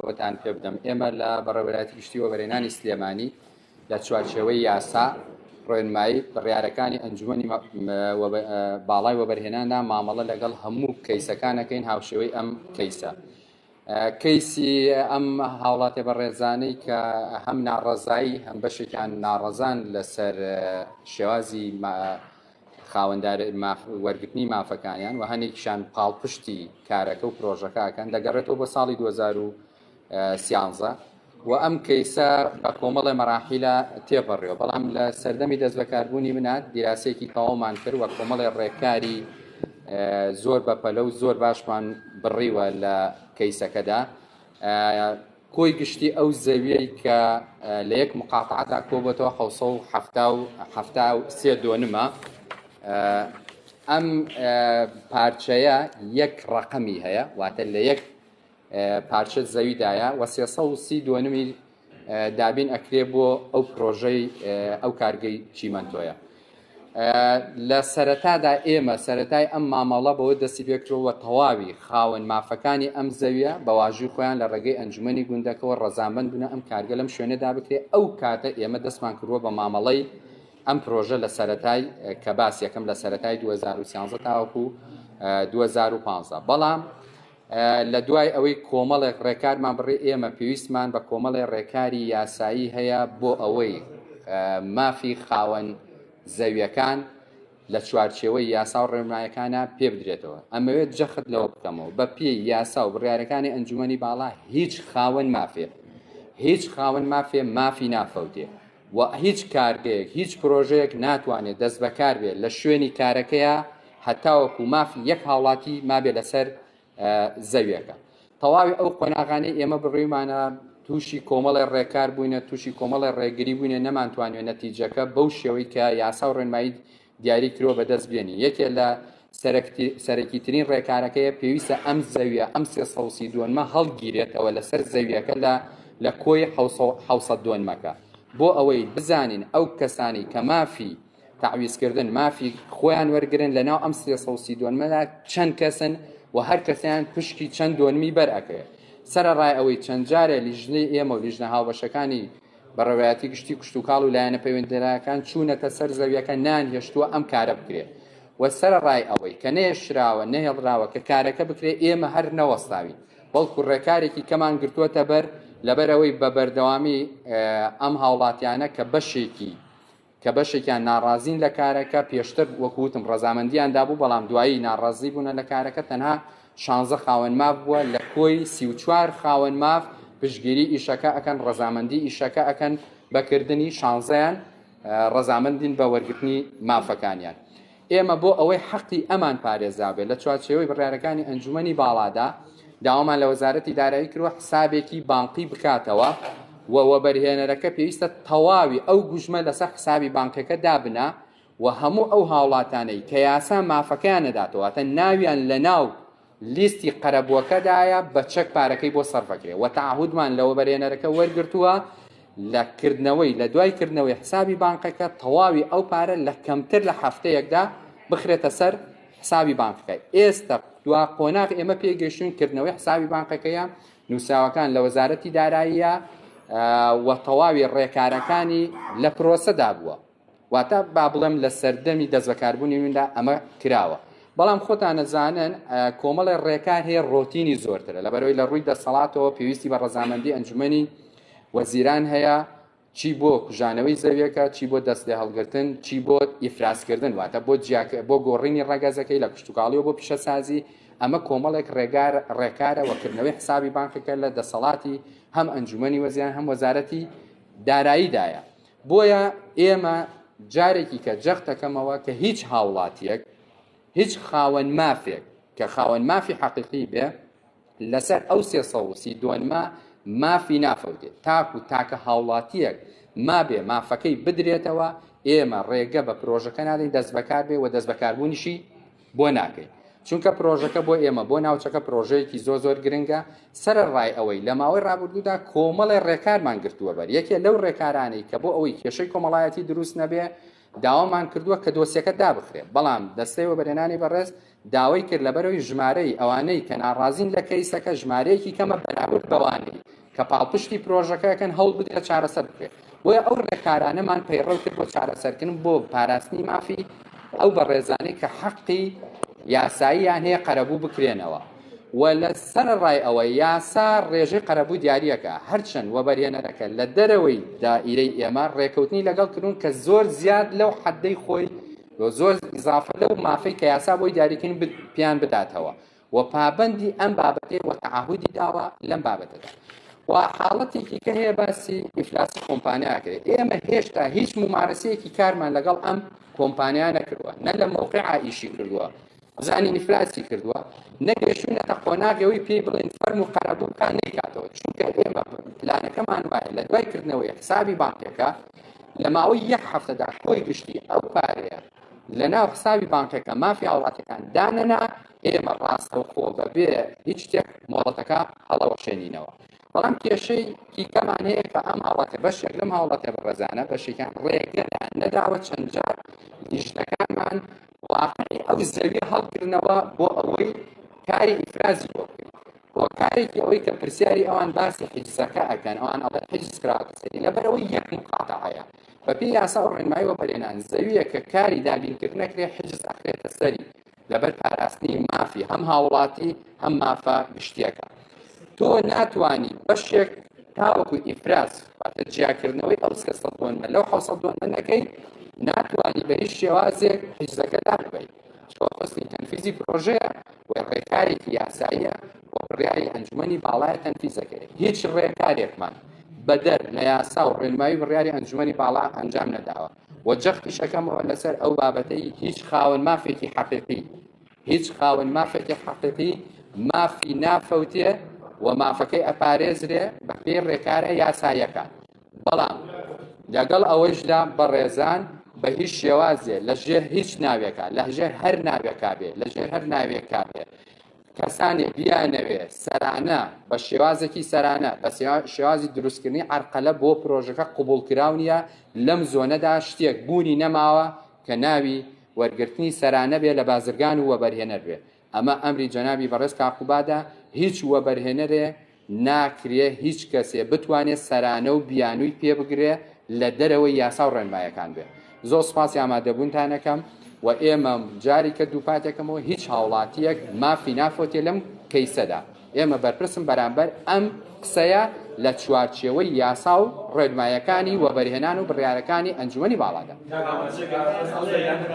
ئەوەتان پێ بدەم ئێمە لە بەڕێوەراتی گشتی وەبەرێنانی سلێمانی لە چوارچێوەی یاسا ڕێنمایی بڕارەکانی ئەنجومی باڵای وەبەرهێناندا مامەڵە لەگەڵ هەموو کەیسەکانەکەین هاوشێوەی ئەم کەیسە. کەیسی ئەم هاوڵاتێ بە ڕێزانەی کە هەم ناڕەزایی هەم بەشێکیان ناڕەزان لەسەر شێوازی خاوەندار وەرگرتنی مافەکانیان و هەنێکیشان پاڵپشتی کارەکە و پرۆژەکەکەن دەگەڕێتەوە بۆ ساڵی 2013 و ئەم کەیسە بە کۆمەڵی مەراحیلە تێپەڕێەوە بەڵام لە سەردەمی دەست بەکاربوونی منات دیراسێکی تەواومان کرد وە کۆمەڵی ڕێکاری زۆر بەپەلە و زۆر باشمان بڕیوە لە کەیسەکەدا کۆی گشتی ئەو زەویەی کە لە یەک مقاتعدا کۆبەتەوە حوسە و حفتا و حفتا و سێ دۆنمە ئەم پارچەیە یەک ڕقەمی هەیە واتە لە یەک پارچە زەویدایە وە سێسە و سی دۆنمی دابین ئەکرێ بۆ ئەو پرۆژەی ئەو کارگەی چیمەندۆیە لە سەرەتادا ئێمە سەرەتای ئەم مامەڵە بەوە دەستی پێکرەوە تەواوی خاوەن مافەکانی ئەم زەویە بەواژوی خۆیان لە ڕێگەی ئەنجومی گوندەکەەوە ڕزانبند بنە ئەم کارگە لەم شوێنەدا بکرێت ئەو کاتە ئێمە دەستمان کردووە بە مامەڵەی ئەم پرۆژە لە سەتای کە باس یەکەم لە سەتای 2013 تاوەکو 2015 بەڵام لە دوای ئەوەی کۆمەڵێک ڕێکارمان بڕی ئێمە پێویستمان بە کۆمەڵێ ڕێکاری یاسایی هەیە بۆ ئەوەی مافی خاوەن زەویەکان لە چوارچێوەی یاسا و ڕێنمایەکانە پێ بدرێتەوە ئەمەوێت جەخت لەوە بکەمەوە بە پێی یاسا و بڕارەکانی ئەنجومی باڵا هیچ خاوەن مافێ هیچ خاوەن مافێ مافی نافەوتێ و هیچ کارگەیەک هیچ پرۆژەیەک ناتوانێت دەست بەکار بێت لە شوێنی کارەکەیە هەتاوەکو مافی یەک هاوڵاتی مابێ لەسەر زەویەکە تەواوی ئەو قۆناغانەی ئێمە بڕیمانە تووشی کۆمەڵی ڕێکار بووینە تووشی کۆمەڵی ڕێگری بووینە نەمانتوانێت نەتیجەکە بەو شێوەی کە یاسا و ڕێنمایی دیاری کرۆ بەدەست بێنی یەکێ لە سەرەکی ترین ڕێکارەکەیە پێویستە ئەم زەویە ئەم سێ سەوسی دۆنمە هەڵگیرێتەوە لەسەر زەویەکە لە لە کۆی حوسە دۆنمەکە بۆ ئەوەی بزانین ئەو کەسانی کە مافی تعویزکردن مافی خۆیان وەرگن لە ناو ئەم سێ سەوسی دۆنمەدا چەند کەسن و هەر کەسیان پشکی چەند دۆنمی بەرەکەێت سەرڕای ئەوەی چەند جارێ لیژنەی ئێمە و لیژنە هاوبەشەکانی بەڕێوایەتی گشتی کشتتوکاڵ و لایەنە پەیوەندراکان چوونەتە سەر زەویەکە نان هێشتووە ئەم کارە بکرێت و سرە ڕای ئەوەی کە نەیەشراوە نەهێڵراوە کە کارەکە بکرێت ئێمە هەر نەوەستاوین بەڵکو ڕێکارێکی کەمان گرتووەتە بەر لەبەرەوەی بە بەردەوامی ئەم هاوڵاتیانە کە بەشێکی کە بەشێکیان ناڕازین لە کارەکە پێشتر وەکوتم ڕەزامەندیان دابوو بەڵام دوایی ناڕازی بوونە لە کارەکە تەنها شانزە خاوەن ماف بووە لە کۆی سی و چوار خاوەن ماف پشگیری ئیشەکە ئەکەن ڕەزامەندی ئیشەکە ئەکەن بەکردنی شانزەیان ڕەزامەندین بە وەرگرتنی مافەکانیان ئێمە بۆ ئەوەی حەقی ئەمان پارێزابێت لە چوارچێوەی بڕارەکانی ئەنجومەنی باڵادا داوامان لە وەزارەتی دارایی کروە حسابێکی بانقی بکاتەوە و وەبەرهێنەرەکە پێویستە تەواوی ئەو گوژمە لەسەر حسابی بانکەکە دابنا و هەموو ئەو هاوڵاتانەی کە یاسا مافەکەیان نەداتەوەتە ناویان لە ناو لیستی قەرەبووەکەدایە بە چەک پارەکەی بۆ سەرف ئەکرێ و تەعهودمان لە وەبەرهێنەرەکە وەرگرتووە لە کردنەوەی لە دوای کردنەوەی حسابی بانقەکە تەواوی ئەو پارە لە کەمتر لە هەفتەیەکدا بخرێتە سەر حسابی بانقەکە ئێستا دوا قۆناغ ئێمە پێگەشتون کردنەوەی حسابی بانقەکەیە نووسراوەکان لە وەزارەتی داراییە و تەواوی ڕێکارەکانی لە پرۆسەدا بووە واتە با بڵێم لە سەردەمی دەست بەکاربوونی ویندا ئەمە کراوە بەڵام خۆتان نەزانن کۆمەڵی ڕێکار هەیە ڕۆتینی زۆرترە لە بەرەوەی لە ڕووی دەسەڵاتەوە پێویستی بە ڕەزامەندی ئەنجومی وەزیران هەیە چی بۆ کوژانەوەی زەویەکە چی بۆ دەست لێ هەڵگرتن چی بۆ ئیفراسکردن واتە بۆ بۆ گۆڕینی ڕگەزەکەی لە کشتتوکاڵیەوە بۆ پیشەسازی ئەمە کۆمەڵێک ڕێگار ڕێکارەوەکردنەوەی حسابی بانکەکە لە دەسەڵاتی هەم ئەنجومی وەزیان هەم وەزارەتی داراییدایە بۆیە ئێمە جارێکی کە جەختەکەمەوە کە هیچ هاوڵاتیەک هیچ خاوەن مافێک کە خاوەن مافی حەقیقی بێ لەسەر ئەو سێ سەوسی دوۆنما مافی نافەوتێت تاکو تاکە هاوڵاتیەک ما بێ مافەکەی بدرێتەوە ئێمە ڕێگە بە پرۆژەکە نادەین دەست بەکار بێ و دەست بەکاربوونیشی بۆ ناکەی چونکە پرۆژەکە بۆ ئێمە بۆ ناوچەکە پرۆژەیەکی زۆ زۆر گرنگە سرە ڕای ئەوەی لە ماوەی ڕابردوودا کۆمەڵێ ڕێکارمان گرتووە بەر یەکێ لەو ڕێکارانەی کە بۆ ئەوەی کێشەی کۆمەڵایەتی دروست نەبێ داوامان کردووە کە دۆسیەکە دابخرێت بەڵام دەستەی وە بەرێنانی بەڕێز داوای کرد لەبەرەوەی ژمارەی ئەوانەی کە ناڕازین لە کەیسەکە ژمارەیەکی کەمە بەراورد بەوانەی کە پاڵپشتی پرۆژەکەکەن هەوڵ بدرێت چارەسەر بکرێت بۆیە ئەو ڕێکارانەمان پەیڕەو کرد بۆ چارەسەرکردن بۆ پاراستنی مافی ئەو بەڕێزانەی کە حەقی یاساییان هەیە قەرەبوو بکرێنەوە و لە سەر ڕای ئەوە یاسا ڕێژەی قەرەبوو دیارریەکە هەرچەند وەبەرهێنەرەکە لە دەرەوەی دائیرەی ئێمە ڕێکەوتنی لەگەڵ کردون کە زۆر زیاد لەو حەدەی خۆی زۆر ئیزافە لەو مافەی کە یاسا بۆی دیاریکن پیان بداتەوە و پابەندی ئەم بابەتەی و تعهدی داوە لەم بابەتەدا و حاڵەتێکی کە هەیە باسی ئیفلاسی کۆمپانیاکرێت ئێمە هێشتا هیچ ممارەسەیەکی کارمان لەگەڵ ئەم کۆمپانیا نەکردووە نە لە مووقع ئایشی کردووە زانی نفراسی کردووە نەگەشتونەتە قۆناغەوەی پێی بڵێن فەرم و قەرەبووکان نەیکاتەوە چونکە ئێمە پلانەکەمان وایە لە دوای کردنەوەی حسابی بانکەکە لە ماوەی یەک هەفتەدا کۆی گشتی ئەو پارەیە لە ناو حسابی بانکەکە مافی هاوڵاتەکان دانەنا ئێمە ڕاستەوخۆ بەبێ هیچ شتێک مۆڵەتەکە هەڵەوەشێنینەوە بەڵام کێشەی کیکەمان هەیە کە ئەم هاوڵاتە بەشێک لەم هاوڵاتە بەڕێزانە بەشێکیان ڕێگەدا نەداوە چەند جار لیژنەکانمان واقعی ئەو زەویە هەڵگرنەوە بۆ ئەوەی کاری ئیفرازی بۆ بکەین کارێکی ئەوەی کە پرسیاری ئەوان باسی حیجزەکە ئەکەن ئەوان ئەڵێ حیجز کراوەتە سەری لەبەرەوەی یەک مقاتەعەیە بە پێی یاسا و ڕێنمایی وەبەرێنان زەوییەک کە کاری دابینکرد نەکرێ حجز ئەخرێتە سەری لەبەر پاراستنی مافی هەم هاوڵاتی هەم مافە گشتیەکە تۆ ناتوانی بەشێک تاوەکو ئیفراز واتە جیاکردنەوەی ئەو سێ سەد دۆنمە لەو حەوسەد دۆنمە نەکەی ناتوانی بە هیچ شێوازێک حیزەکە داببیت ئەمەش فەسلی تەنفیزی پرۆژەیە و ڕێکارێکی یاساییە و بڕیاری ئەنجومەنی باڵایە تەنفیزەکەی هیچ ڕێکارێکمان بەدەر لە یاسا و ڕێنمایی بڕیاری ئەنجومەنی باڵا ئەنجام نەداوە و جەختی شەکەمەوە لەسەر ئەو بابەتەی هیچ خاوەن مافێکی حەقیقی هیچ خاوەن مافێکی حەقیقی مافی نافەوتێ و مافەکەی ئەپارێزرێ بە پێی ڕێکارە یاسایەکان بەڵام لەگەڵ ئەوەیشدا بەڕێزان بە هیچ شێوازێ لە ژێر هیچ ناوێکە لە ژێر هەر ناوێکا بێ لە ژێر هەر ناوێکا بێ کەسانێ بیانەوێ سەرانە بە شێوازێکی سەرانە بە شێوازی دروستکردنی ئەرقەلە بۆ پرۆژەکە قوبول کراونیە لەم زۆنەدا شتێک بوونی نەماوە کە ناوی وەرگرتنی سەرانە بێ لە بازرگان و وەبەرهێنەر بێ ئەمە ئەمری جەنابی بەڕێز تاقوبادە، هیچ وەبەرهێنەرێ ناکرێ هیچ کەسێ بتوانێ سەرانە و بیانووی پێ بگرێ لە دەرەوەی یاسا و ڕێنمایەکان بێ. زۆر سوپاسی ئامادەبوونتان ئەکەم و ئێمە جاریکە دووپاتێکەمەوە هیچ هاوڵاتییەک مافی نافەوتێ لەم کەیسەدا. ئێمە بەرپرسم بەرامبەر ئەم قسەیە لە چوارچێوەی یاسا و ڕێنمایەکانی وەبەرهێنان و بڕیارەکانی ئەنجومەنی باڵادا.